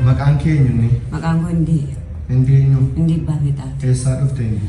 Maqaan kee eenyunni? Maqaan koo Indii. Indii eenyu? Indii Abbaa Fiixaati. Eessaa dhufte indi?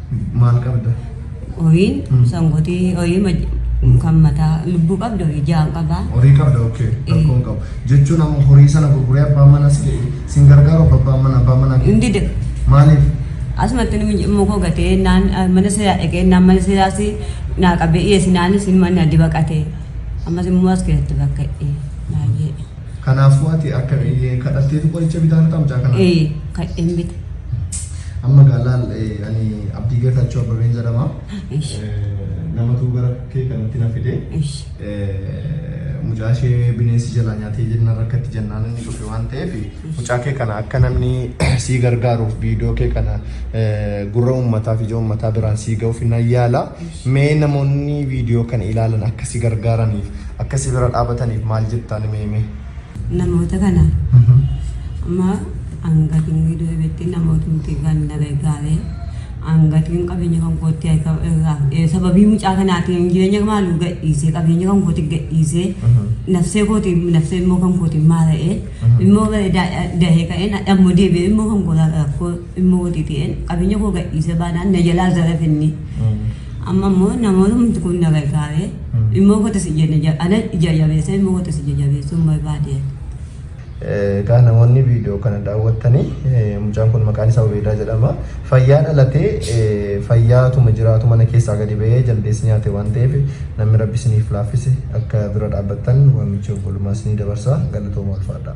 Maal qabda? Horii sangotii horii ma- kan mataa lubbuu qabda horii ja'an qabaa. Horii qabda okkee rakkoo hin qabu. Jechuun amma horii sana gurguree abbaan manaa si jedhe sin gargaaru abba abbaan manaa abbaan manaa kee. Hin dide. Maaliif? Asumatti inni mucimmoo koo gatee naan ah, mana seeraa dhaqee naan mana seeraas naa qabee dhiyeessi naanis inni mana addi baqatee. Ammas immoo as keessatti bakka eh, baay'ee. Kanaafuu ati akka eh, kadhatteetu qoricha bitaa lataa mucaa kanaa? Ee, kadheen bite. Amma gaalaal eh, ani Abdii Geetaachoo Abbabeen jedhama. Ish, Eh, Namatu gara kee kanatti na fide. ish. Eh, Mucaa ishee bineensi jalaa nyaatee jenna rakkatti jennaan inni dhufe waan ta'eef mucaa kee kana akka namni sii gargaaruuf viidiyoo kee kana eh, gurra uummataa fi ija uummataa biraan sii ga'uuf nan yaala. Mee namoonni video kana ilaalan akka si gargaaraniif akka si bira dhaabataniif maal jettaa nime hime. Namoota kana amma angatiin video irratti namootumti kan na gargaare angatiin qabeenya kan kootti harka irraa fudhee sababii mucaa kanaatiin jireenya maalu gadhiisee qabeenya kan kootti gadhiisee nafsee kootiin nafsee immoo kan kootiin maara'ee immoo dahee ka'een dhammoo deebi'ee immoo kan kootaa rakkoo Immoo watii ta'een qabeenya koo gadhiisee baanaan na jalaa zarafe inni. Amma immoo namoonni kun na gargaaree immoo kootis ija ana ija jabeessee immoo kootis ija jabeessuu hin barbaade. Egaa namoonni viidiyoo kana daawwattanii mucaan kun maqaan isaa Ubeedaa jedhama. Fayyaa dhalatee fayyaatuma jiraatu mana keessaa gadi ba'ee jaldeessi nyaate waan ta'eef namni rabbi isiniif laaffise akka bira dhaabbattan waamicha obbolummaa isinii dabarsa galatooma ulfaadhaa.